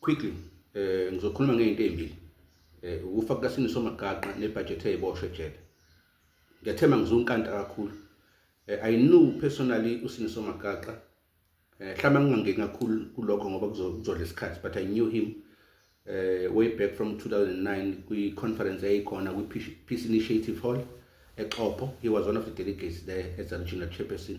Quickly, eh ngizokhuluma ngezinto ezimbili. Eh ukufa kukaSini Somagaqa nebudget eziboshwe ejele. Ngethema ngizunkanta kakhulu. Eh I knew personally uSini Somagaqa. Eh hlama ngingangeni kakhulu kulokho ngoba kuzodla isikhathi but I knew him eh way back from 2009 kwi conference eyikhona kwi Peace Initiative Hall eXhopho. He was one of the delegates there as a chairperson.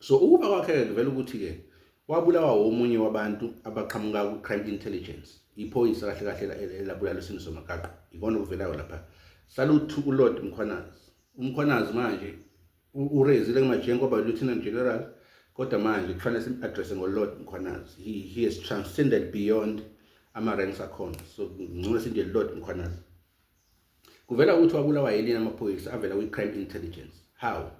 so ukufa kwakhe-ke kuvela ukuthi-ke wabulawa womunye wabantu abaqhamuka ku-crime intelligence iphoyisa kahle kahle elabulala isimo somagaqo ikona okuvelayo lapha saluthu ulord mkhwanazi umkhwanazi manje urezile kumajengo oba lieutenant general kodwa manje kufanele sim-addresse ngolord mkhwanazi he, he has transcended beyond ama-ranks akhona so ngcono sinje lord mkhwanazi Kuvela ukuthi wabulawa yini amaphoyisa avela kwi-crime intelligence. How?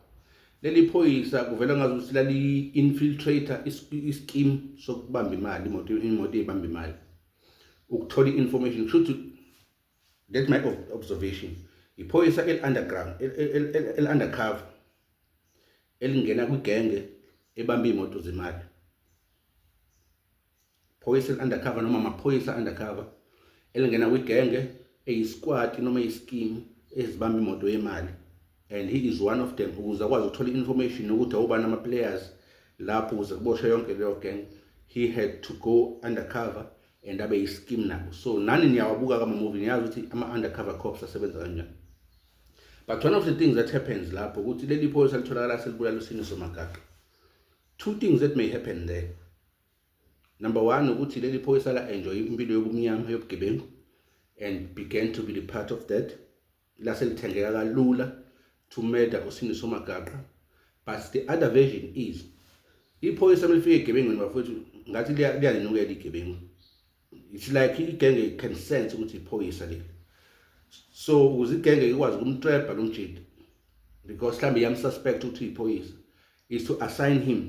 Leli phoyisa kuvela ngazi ukuthi lali-infiltrator isikimu sokubamba imali imoto imoto ibamba imali ukuthola i-information kusho ukuthi that my observation iphoyisa eli-underground eli-undercover elingena kwigenge ebamba iy'moto zemali phoyisa eliundercover noma amaphoyisa undercover elingena kwigenge eyisikwati noma eyisikimu ezibamba imoto yemali and he is one of them ukuze akwazi ukuthola i-information yokuthi awubani ama-players lapho ukuze kuboshwe yonke leyo gang he had to go undercover and abe yisikim nabo so nani niyawabuka kamamuvi niyazi ukuthi ama-undercover cops asebenza kanjani but one of the things that happens lapho ukuthi leli phoyisa litholakala selibulala usiniso magaqa two things that may happen there Number one ukuthi leli phoyisa la enjoy impilo yobumnyama yobugebengu and began to be the part of that lase lithengeka kalula to murder usindiso magaqa but the other version is iphoyisa melifika egebengweni bafowethu ngathi liyalinukela igebengu it's like igenge can sense ukuthi iphoyisa leli so ukuze igenge ikwazi ukumtreba lo mjidi because mhlawumbe iyamsuspect ukuthi iphoyisa is to assign him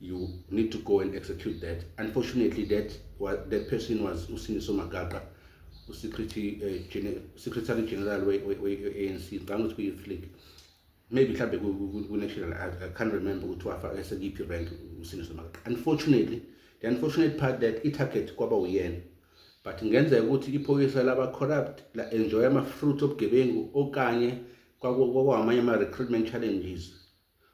you need to go and execute that unfortunately that that person was usiniso magaqa usecretary uh, eh, secretary general we-anc ngicanga ukuthi kuyi-youth league maybe mhlawumbe ku-national i can't remember ukuthi wafaka sekiphi rank usiniso magaqa unfortunately the unfortunate part that i-target kwaba uyena but ngenzeka ukuthi iphoyisa laba-corrupt la-enjoya ama-fruit obugebengu okanye kwakwamanye ama-recruitment challenges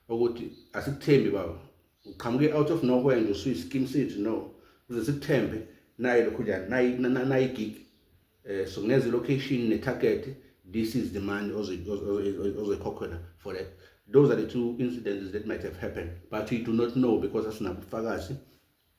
ukuthi asikuthembi baba uqhamuke out of nowhere nje usuyi skim sithi no uze sikuthembe naye lokhu njani nayi nayi gig eh so ngenze location ne target this is the money ozoyikhokhela for that those are the two incidences that might have happened but we do not know because asinabufakazi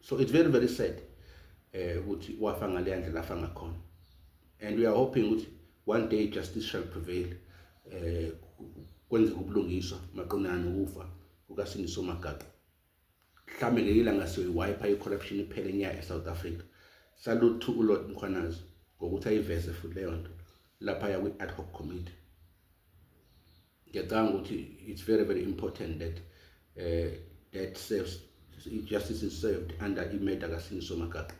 so it's very very sad eh ukuthi wafa ngale ndlela afa ngakhona and we are hoping ukuthi one day justice shall prevail eh kwenzeka ubulungiswa maqonana ukufa kukasindiso magaqa mhlambe ngeyila ngasiyoyiwipa i-corruption iphele nya e-south africa salute to ulord mkhwanazi ngokuthi ayiveze futhi leyo nto lapha yakwi-ad hoc committee ngiyacanga ukuthi it's very very important that uh, that serves justice is served under imeda kasingiso magaqa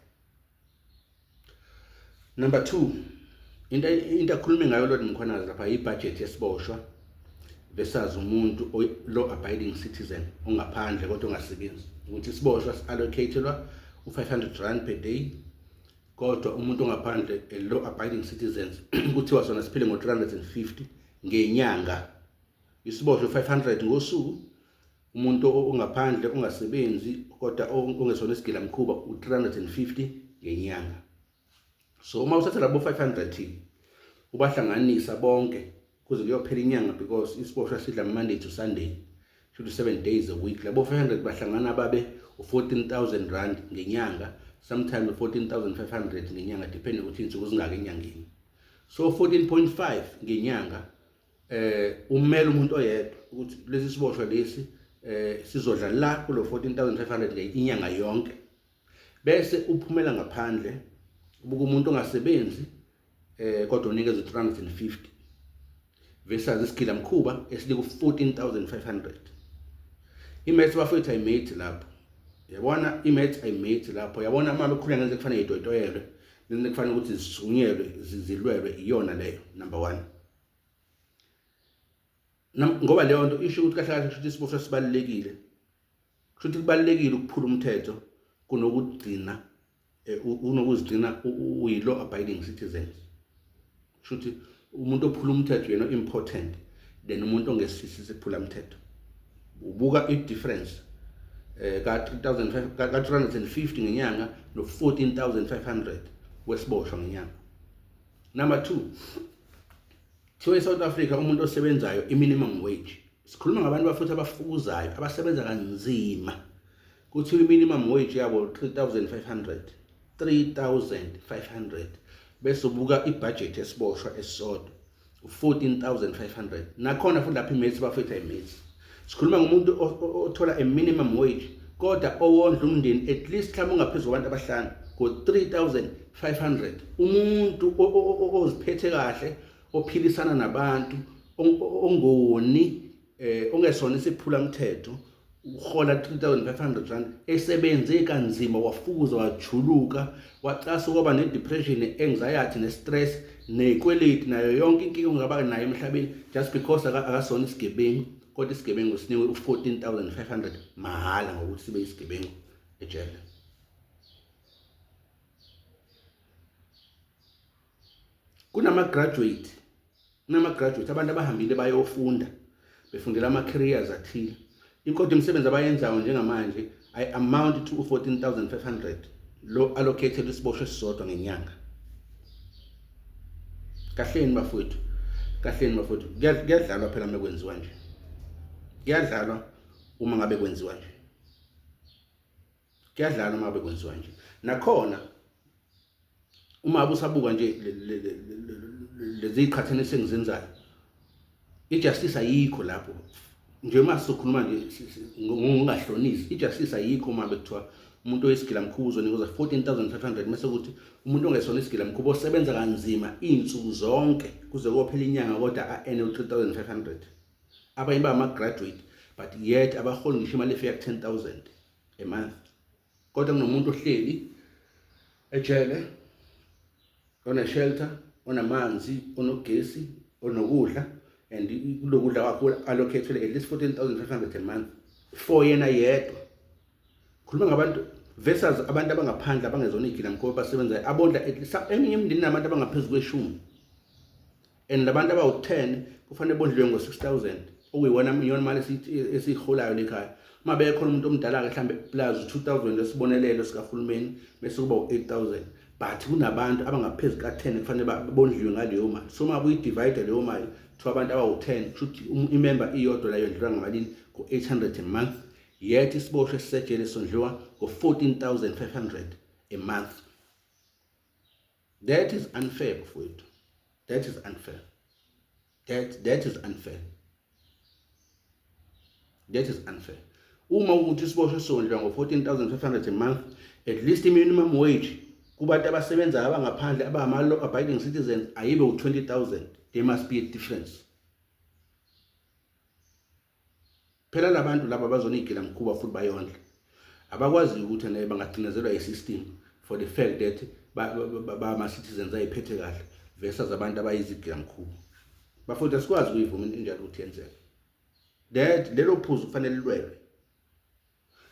number 2 into into akhulume ngayo lord mkhwanazi lapha ibudget yesiboshwa versus umuntu law abiding citizen ongaphandle kodwa ongasebenzi ukuthi isiboshwa si-allocatelwa u-500 rand per day kodwa umuntu ongaphandle a law abiding citizens kuthiwa sona siphile ngo-350 ngenyanga isiboshwe 500 ngosuku umuntu ongaphandle ongasebenzi kodwa ongesona isigila mkhuba u350 ngenyanga so uma uthatha labo 500 ubahlanganisa bonke kuze kuyophela inyanga because isiboshwa sidla Monday to Sunday to 7 days a week labo 500 bahlangana babe u14000 rand ngenyanga sometimes 14500 ngenyanga depending ukuthi insuku zingaka enyangeni so 14.5 ngenyanga eh umela umuntu oyedwa ukuthi lesi siboshwa lesi eh sizodla la kulo 14500 le inyanga yonke bese uphumela ngaphandle ubuka umuntu ongasebenzi eh kodwa unikeza 350 versus isigilamkhuba esiliku-14500 imaths bafethu ayimate lapho yabona imaths ayimate lapho yabona uma bekhulula ngenze kufanele yitoyitoyelwe ngenze kufanele ukuthi zisunyelwe zilwelwe iyona leyo number one ngoba leyo nto isho ukuthi kahle kahle kusho ukuthi isiboshwa sibalulekile kusho ukuthi kubalulekile ukuphula umthetho kunokugcina eh, unokuzigcina uyi-law abiding citizens kusho ukuthi umuntu ophula umthetho yena important then umuntu ongesisi siphula umthetho ubuka i-difference eh ka 3500 ka 350 ngenyanga no 14500 wesiboshwa ngenyanga number 2 thiwe South Africa umuntu osebenzayo i minimum wage sikhuluma ngabantu bafuthi abafukuzayo abasebenza kanzima Kuthiwa i-minimum wage yabo 3500 3500 bese ubuka ibhajethi esiboshwa esisodwa 14500 nakhona futhi lapha imates bafetha imates sikhuluma ngomuntu othola a minimum wage kodwa owondla umndeni at least mhlawumbe ungaphezulu kwabantu abahlanu ngo-3500 umuntu oziphethe kahle ophilisana nabantu ongoni eh ongesona isiphula mthetho uhola 3500 rand esebenze kanzima wafukuza wajuluka wacasa kwaba nedepression anxiety nestress nekweleti nayo yonke inkinga ongaba nayo emhlabeni just because akasona isigebengu kodwa isigebengu sinikwe u14500 mahhala ngokuthi sibe isigebengu ejele kunama graduate kunama graduate abantu abahambile bayofunda befundela ama careers athile inkodo imisebenzi abayenzayo njengamanje i amount to 14500 lo allocated isiboshwe sisodwa ngenyanga kahleni bafowethu kahleni bafowethu kuyadlalwa phela uma kwenziwa nje kuyadlalwa uma ngabe kwenziwa nje kuyadlala uma bekwenziwa nje nakhona uma usabuka nje lezi qhathane sengizenzayo ijustice ayikho lapho nje uma sokhuluma nje ngongahlonisi ijustice ayikho uma bekuthiwa umuntu oyisigila mkhuba uzonikezwa 14500 mase ukuthi umuntu ongesona isigila mkhuba osebenza kanzima izinsuku zonke kuze kophela inyanga kodwa aene u3500 abanye ba ama graduate but yet abaholi ngisho imali efika ku 10000 a month kodwa kunomuntu ohleli ejele one shelter onamanzi onogesi onokudla and kulokudla kwakho allocatele at least 14500 a month for yena yedwa khuluma ngabantu versus abantu abangaphandle abangezona igila mkhoba basebenzayo abondla eminye imindeni nabantu abangaphezulu kweshumi and labantu abawu-10 kufanele bondliwe ngo-6000 okuyiwona iyona mali esiyiholayo lekhaya uma bekhona umuntu omdala-ke mhlawumbe plus 2000 esibonelelo sikahulumeni bese kuba u-8000 but kunabantu abangaphezu ka-10 kufanele bondliwe ngaleyo mali so uma buyidivide leyo mali kuthiwa abantu abawu-10 kusho ukuthi um, imemba iyodwa layo ndlula ngamalini ngo-800 a month yet isiboshwe sisejele sondliwa ngo-14500 a month That is unfair mfowethu. That is unfair. That that is unfair. That is unfair. Uma ukuthi isiboshwe sondla ngo 14500 a month at least minimum wage kubantu abasebenzayo abangaphandle abangama law abiding citizens ayibe u 20000 there must be a difference. phela labantu laba bazonigila mkhuba futhi bayondla abakwaziyo ukuthi naye bangacinezelwa yi-system for the fact that bama-citizens ayiphethe kahle versus abantu abayizigila mkhuba bafowethu asikwazi ukuyivuma into enjalo ukuthi yenzeke that lelo phuzu kufanele lilwelwe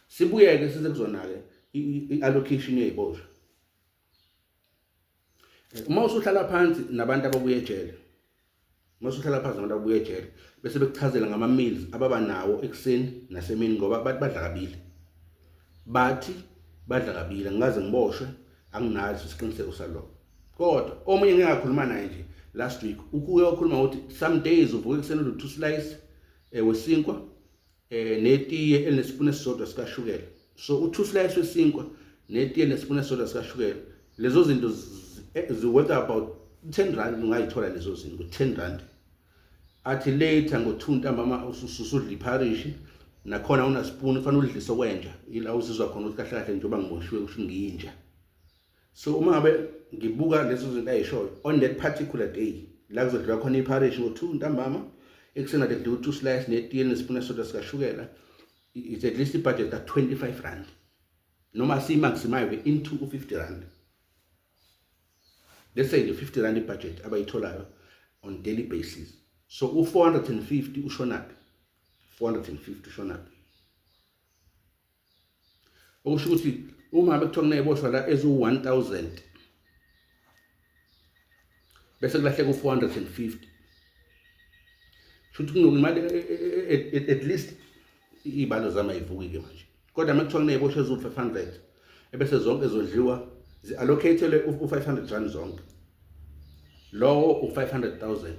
sibuyeke size kuzona-ke i-allocation yeyiboshwa uma usuhlala phansi nabantu ababuye ejele uma usuhlala phansi nabantu ababuye ejele bese bekuchazela ngama-meals ababa nawo ekuseni nasemini ngoba bathi badla kabili bathi badla kabili angikaze ngiboshwe anginazi isiqiniseko saloko kodwa omunye ngeke ngakhuluma naye nje last week ukuye wakhuluma ukuthi some days uvuka ekuseni uthi two slice eh, wesinkwa eh netiye elinesipunu esisodwa sikashukela so u2 slice wesinkwa netiye nesipunu esisodwa sikashukela lezo zinto eh, ziworth about 10 rand ungayithola lezo zinto 10 rand athi later ngo2 ntambama ususudla ipharishi nakhona unasipuni kufanele udlise okwenja ila uzizwa khona ukuthi kahle kahle njengoba ngiboshiwe kusho ngiyinja so uma ngabe ngibuka lezo zinto ayishoyo on that particular day la kuzodliwa khona iparish ngo-two ntambama ekuseni kade kudliwa u-two slice netiye nesipuna soda sikashukela it's at least ibudget ka-25 rand noma siyimaximive into u-50 rand let's say nje 50 rand ibudget abayitholayo on daily basis so u-450 ushonaphi 450 ushonaphi okusho ukuthi uma ngabe kuthiwa kuney'boshwa la eziwu-one thousand bese kulahleka u-four hundred and fifty shuthi kunokumali e, e, e, at least iy'balo zami ayivukike manje kodwa uma kuthiwa kuney'boshwa eziwu-five hundred ebese zonke zodliwa zi-allocatele u-five hundred rand zonke lowo u-five hundred thousand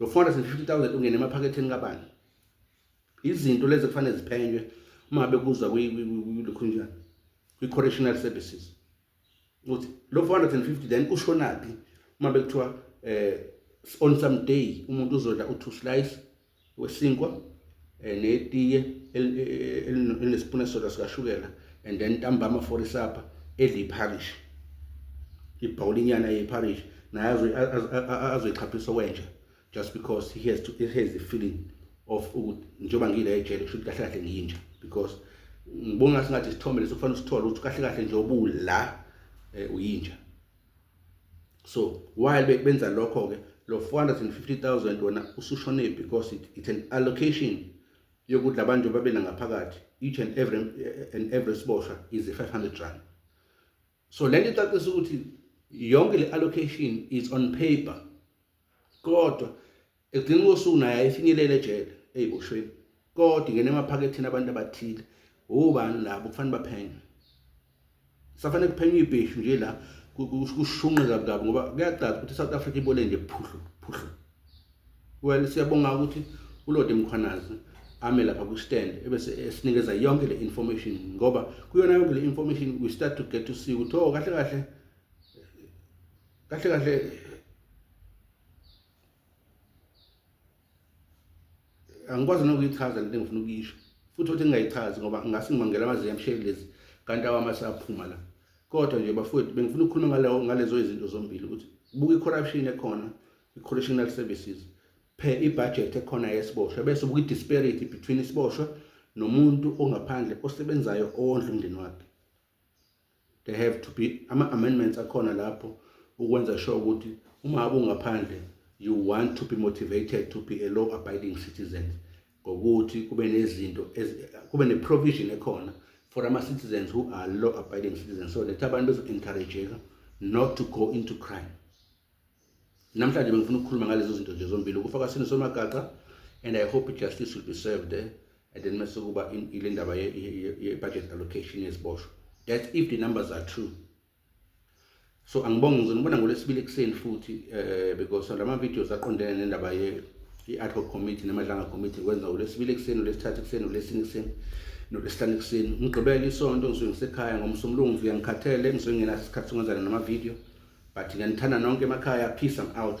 lo 450000 ungena emaphaketheni kabani izinto lezi kufanele ziphenywe uma be kuzwa kwikhunjana kwi-correctional services ukuthi lo 450 then ushonaphi uma bekuthiwa eh on some day umuntu uzodla u2 slice wesinkwa eh, netiye elinesipuna soda sikashukela and then ntambama for isapha edla iparish ibhawulinyana yeparish naye azoyichaphisa wenja just because he has, to, he has the feeling of ukuthi njengoba ngile ejele kusho ukuthi kahle kahle ngiyinja because ngibona ngathi ngathi isithombe leso kufanele usithole ukuthi kahle kahle nje obula eh, uyinja so while benza lokho ke lo 450000 wona usushone because it, it's an allocation yokuthi labantu babe nangaphakathi each and every and every sibosha is 500 rand so lento icacisa ukuthi yonke le allocation is on paper kodwa ekugcina kosuku naye ayifinyelele ejele eyiboshweni kodwa ingene emaphaketheni abantu abathile ubani labo kufanele baphenye safanele kuphenywe ibheshu nje la kushunqe kabi kabi ngoba kuyacaca ukuthi iSouth Africa ibole nje phuhlu phuhlu well siyabonga ukuthi ulode mkhwanazi ame lapha ku-stand ebese esinikeza yonke le information ngoba kuyona yonke le information we start to get to see ukuthi o oh, kahle kahle kahle kahle angikwazi nokuyichaza lento engifuna ukuyisho futhi ukuthi ngingayichazi ngoba ngingase ngimangela amazinga emsheli lezi kanti awami asaphuma la kodwa nje bafowethu bengifuna ukukhuluma ngaleyo ngalezo izinto zombili ukuthi buka i-corruption ekhona i-correctional services phe i-budget ekhona yesiboshwa bese ubuka i-disparity between isiboshwa nomuntu ongaphandle osebenzayo owondla umndeni wakhe there have to be ama-amendments akhona lapho ukwenza sure ukuthi uma ungaphandle you want to be motivated to be a law abiding citizen ngokuthi kube nezinto kube ne-provision ekhona for ama-citizens who are law abiding citizens so that abantu bezo-encourageka not to go into crime namhlanje bengifuna ukukhuluma ngalezo zinto nje zombili ukufa kwasini somagaqa and i hope justice will be served eh? and then mase kuba ile ndaba ye-budget allocation yeziboshwa that's if the numbers are true so angibonge ngizonibona ngolwesibili ekuseni futhi um because lama-videos aqondene nendaba ye-ad hoc committee nemadlanga committee kwenza ngolwesibili ekuseni olwesithathu ekuseni olwesini ekuseni nolwesihlanu ekuseni ngigqibele isonto ngisuke ngisekhaya ngomsomlungu ngifika ngikhathele ngisuke ngingenaso isikhathi sokungenzana namavidiyo but ngiyanithanda nonke emakhaya peace I'm out